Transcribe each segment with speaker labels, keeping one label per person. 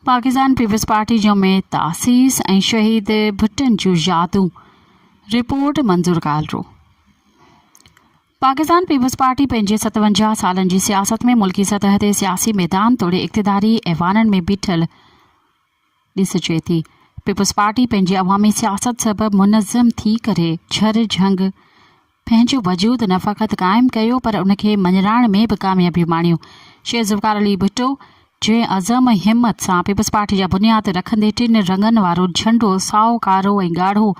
Speaker 1: پاڪستان پيپلز پارٽي جو ميت تاسيس ۽ شهيد ڀٽن جون يادون رپورٽ منظور ڪالرو پاڪستان پيپلز پارٽي پنهنجي ستونجاهه سالن جي سياست ۾ ملڪي سطح تي سياسي ميدان توڙي اقتداري ايوانن ۾ بيٺل ڏس چئي ٿي پيپلز پارٽي پنهنجي عوامي سياست سبب منظم ٿي ڪري ڇر جهنگ پنهنجو وجود نه فقط قائم ڪيو پر ان کي مڃرائڻ ۾ به ڪاميابيون ماڻيون شيخ ذوالفقار علي ڀٽو جنهن عزم ۽ همت سان پيپلز پارٽي جا بنياد رکندي ٽن رنگن وارو جهنڊو سائو ڪارو ۽ ڳاڙهو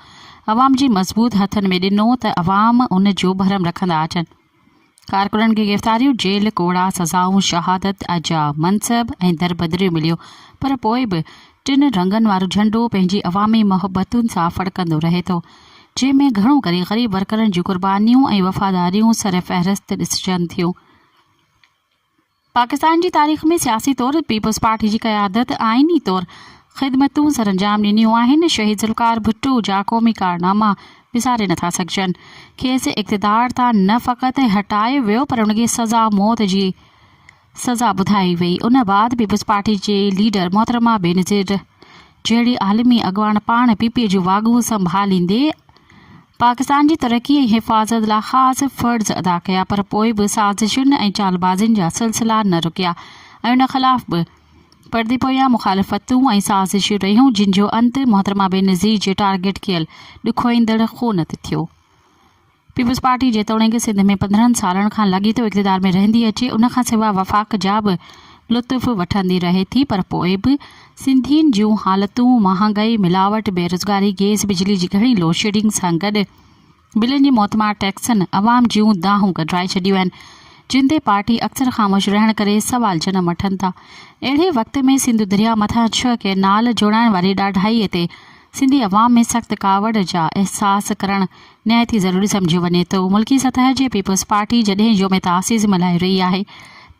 Speaker 1: عوام جي مضبوط هٿن ۾ ڏنو ته عوام ان جو ڀرم رکندا اچن. ڪارڪنن کي گرفتاريون، جيل، ڪوڙا سزائون، شهادت جا منصب ۽ دربدريون مليون پر پوء به ٽن رنگن وارو جهنڊو پنهنجي عوامي محبتن سان ڦڙڪندو رهي ٿو، جنهن ۾ گهڻو ڪري غريب ورڪرن جون قربانيون ۽ وفاداريون سرفهرست ڏسجن ٿيون. پاڪستان جي تاريخ ۾ سياسي طور پيپلز پارٽي جي قيادت آئيني طور خدمتون سرانجام ڏنيون آهن، شهيد ذوالفقار ڀٽو جا قومي ڪارناما وساري نٿا سگهجن، کيس اقتدار تان نه فقط هٽايو ويو پر ان کي سزا موت جي سزا ٻڌائي وئي، ان بعد پيپلز پارٽي جي ليڊر محترمه بينظير جهڙي عالمي اڳواڻ پاڻ پي پي جون واڳون سنڀاليندي پاڪستان جي ترقي ۽ حفاظت لاء خاص فرض ادا ڪيا پر پوء به سازشن ۽ چالبازين جا سلسلا نه رڪيا ۽ ان خلاف به پردي پويان مخالفتون ۽ سازشون رهيون جن جو انت محترمه بينظير جي ٽارگيٽ ڪيل ڏکوئيندڙ خون تي ٿيو. پيپلزپارٽي جيتوڻيڪ سنڌ ۾ پندرهن سالن کان لاڳيتو اقتدار ۾ رهندي اچي ان کان سواء وفاق جا به لطف وٺندي رهي ٿي پر پوء به سنڌين جون حالتون مهانگائي، ملاوٽ، بيروزگاري، گئس بجلي جي گهڻي لوڊشيڊنگ سان گڏ بلن جي موتمار ٽيڪسن عوام جون دانهون ڪڍرائي ڇڏيون آهن، جن تي پارٽي اڪثر خاموش رهڻ ڪري سوال جنم وٺن ٿا. اهڙي وقت ۾ سنڌو درياء مٿان ڇهه ڪئنال جوڙائڻ واري ڏاڍائي تي سنڌي عوام ۾ سخت ڪاوڙ جا احساس ڪرڻ نهايت ئي ضروري سمجهيو وڃي ٿو. ملڪي سطح جي پيپلز پارٽي جڏهن يوم تاسيس ملهائي رهي آهي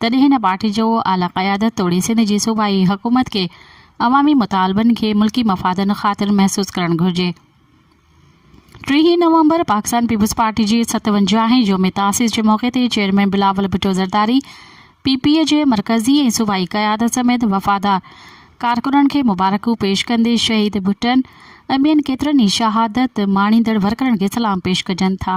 Speaker 1: تڏهن هن پارٽي جو اعليٰ قيادت توڙي سنڌ جي صوبائي حڪومت کي عوامي مطالبن کي ملڪي مفادن خاطر محسوس ڪرڻ گهرجي. ٽيهين نومبر پاڪستان پيپلز پارٽي جي ستونجاهين يوم تاسيس جي موقعي تي chairman Bilawal Bhutto Zardari P P جي مرڪزي ۽ صوبائي قيادت سميت وفادار ڪارڪنن کي مبارڪون پيش ڪندي شهيد ڀٽن ۽ ٻين ڪيترن ئي شهادت ماڻيندڙ ورڪرن کي سلام پيش ڪجن ٿا.